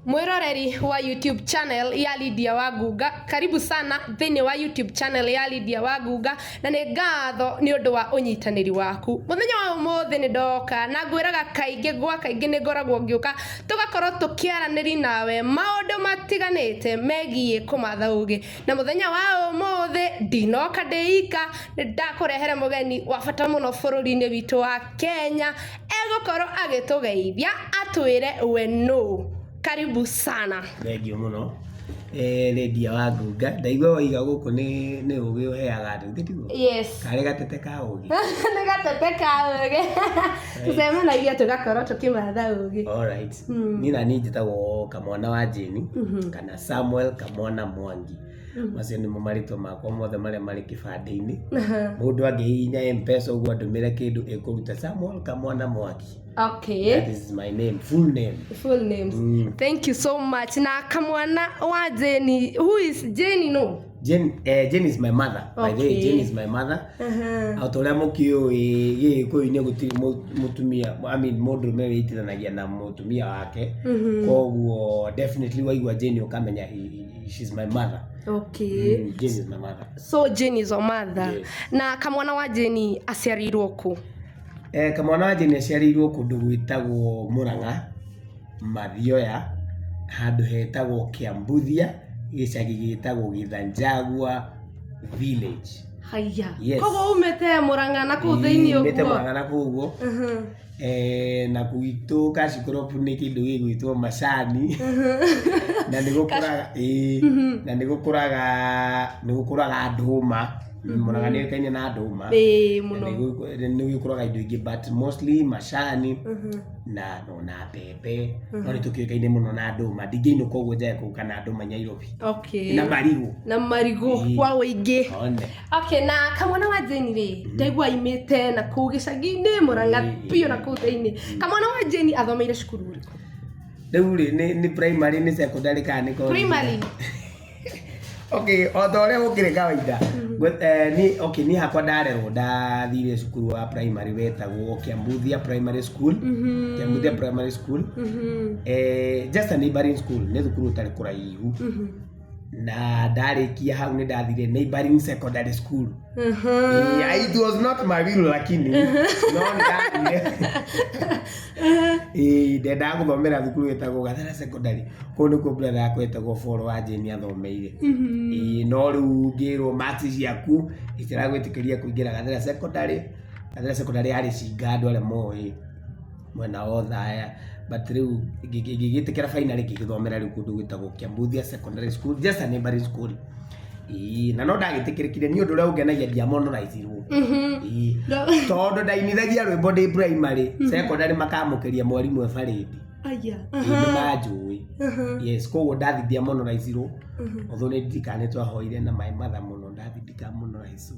Mwĩroreri wa YouTube channel ya Lydia wa Ngunga, karibu sana thĩinĩ wa YouTube channel ya Lydia wa Ngunga, na nĩ ngatho nĩ ũndũ wa ũnyitanĩri waku. Mũthenya wa ũmũthĩ nĩ ndoka na ngwĩraga kaingĩ gwa kaingĩ nĩ ngoragwo ngĩũka tũgakorwo tũkĩaranĩria nawe maũndũ matiganĩte megiĩ kũmatha ũgĩ. na mũthenya wa ũmũthĩ ndinoka ndĩika nĩ ndakũrehere mũgeni wa bata mũno bũrũri-inĩ witũ wa kenya egũkorwo agĩtũgeithia atwĩre we nũ karibu sana Thengiũ mũno. Eh, Lydia wa Ngunga. Ndaigua waiga gũkũ nĩ nĩ ũgĩ ũheaga andũ. Ithe tiguo? yes Karĩ gatete ka ũgĩ. nĩ gatete ka ũgĩ tũcemanagia tũgakorwo tũkĩmatha ũgĩ Alright. Mm. Niĩ na niĩ njĩtagwo kamwana wa Jane Mhm. kana samuel kamwana mwangi macio nĩmo marĩtwa makwa mothe marĩa marĩ kĩbandĩ-inĩ mũndũ angĩhihinya mpesa ũguo andũmĩre kĩndũ ĩkũruta samuel kamwana mwangi okay that is my name full name full names Mm. thank you so much na kamwana wa jeni who is jeni no Jane, eh, Jane is my mother by the way Okay. Jane is my mother Aha. ota ũrĩa mũkĩũĩ gĩgĩkũyũ-inĩ gũtirĩ mũ- mũtumia I mean mũndũrũme wĩitithanagia na mũtumia wake Mhm. koguo definitely waigua Jane ũkamenya he- he- she's my mother okay Mm, Jane is my mother so jane is your mother Yes. na kamwana wa jane aciarirwo kũ Eh, kamwana wa Jane aciarĩirwo kũndũ gwĩtagwo Mũrang'a Mathioya, handũ hetagwo Kĩambuthia, gĩcagi gĩtagwo Gĩthanjagua village. Haiya. Yes. Koguo umĩte Mũrang'a na kũu thĩinĩ ũguo. Umĩte Mũrang'a na kũu ũguo. Eh, na gwitũ Kashikuropu nĩ kĩndũ gĩgwĩtwo macani na nĩ gũkũraga ĩĩ mhm. na nĩ gũkũraga nĩ gũkũraga ndũma mhm. Mũrang'a nĩ ũĩkaine na ndũma nĩ gũkũraga indo ingĩ but mostly macani mhm. na no na mbembe Mhm. no nä tå kä å kaine må no na ndå ma ndingä inå koguo njae kå kana andå manyairobi okay na marigå na marigũ Ii. kwa ũingĩ one okay na kamwana wa jeni rĩ Mhm. ndaigua imĩte na kũu gĩcagi-inĩ mũranga Ii. biũ na kũu thĩinĩ kamwana wa jeni athomeire cukuru ũrĩkũ rä u rä nä primary nä secondary kana nä primary Okay, o ta ũrĩa gũkĩrĩ kawaida, ngwe- eh, ni- okay, niĩ hakwa ndarerwo ndathire cukuru wa primary wetagwo Kiambuthia Primary School, Mhm. Kiambuthia Primary School, Mhm. eh, just a neighboring school, nĩ thukuru ũtarĩ kũraihu. Mhm. Na ndarĩkia hau nĩ ndathire neighboring secondary school. Mhm. Yeah, it was not my real lakini no nĩ ndathire Ĩĩ, ndendaga gũthomera thukuru ĩtagwo Gathera Secondary. Kũu nĩkuo brother yakwa ĩtagwo Paul Wanjĩni athomeire. Ĩĩ, no rĩu ngĩrwo marks ciaku itiragwĩtĩkĩria kũingĩra Gathera Secondary. Gathera Secondary yarĩ Cinga andũ arĩa moĩ mwena wa Othaya. But rĩu ngĩgĩtĩkĩra finally ngĩgĩthomera rĩu kũndũ gwĩtagwo Kiambuthia Secondary School, just a neighbouring school. Ii, na no ndagĩtĩkĩrĩkire nĩ ũndũ ũrĩa ũngenagia ndiamonoraicirwo Ii, tondũ ndainithagia rwĩmbo ndĩ primary secondary makamũkĩria mwarimũ e barĩndi aya nĩ manjũĩ yes koguo ndathi ndiamonoraicirwo although nĩ ndirikanĩtwo ahoire na maĩ matha mũno ndathi ndikamonoraicwo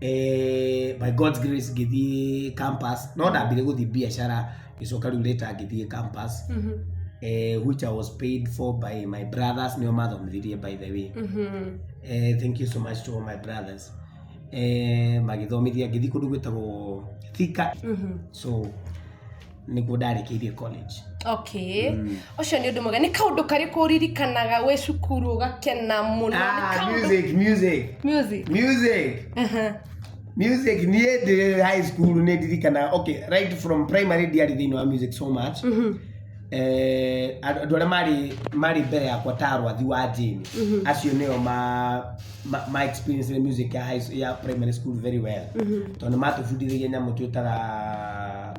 eh, by God's grace ngĩthiĩ campus no ndambire gũthiĩ biacara gĩcoka rĩu later ngĩthiĩ campus Mhm. eh, which I was paid for by my brothers nĩo mathomithirie by the way Mhm. eh, thank you so much to all my brothers eh, magĩthomithia ngĩthiĩ kũndũ gwĩtagwo thika Mhm. so nĩguo ndarĩkĩirie college okay Mm. ũcio nĩ ũndũ mwega nĩ kaũndũ karĩkũ ũririkanaga wĩ cukuru ũgakena mũno Nĩ ah, kaũndũ- music music music music Aha. music niä ndä high school nä ndirikana okay right from primary ndiarä thä inä wa music so much Mhm. Eh, andå andå arä a marä marä mbere yakwa ta arwathi wa njini Mhm. acio nä o ma ma- ma experience the music ya, high, ya primary school very well Mhm. tondå matå bundithagia nyamå twä taga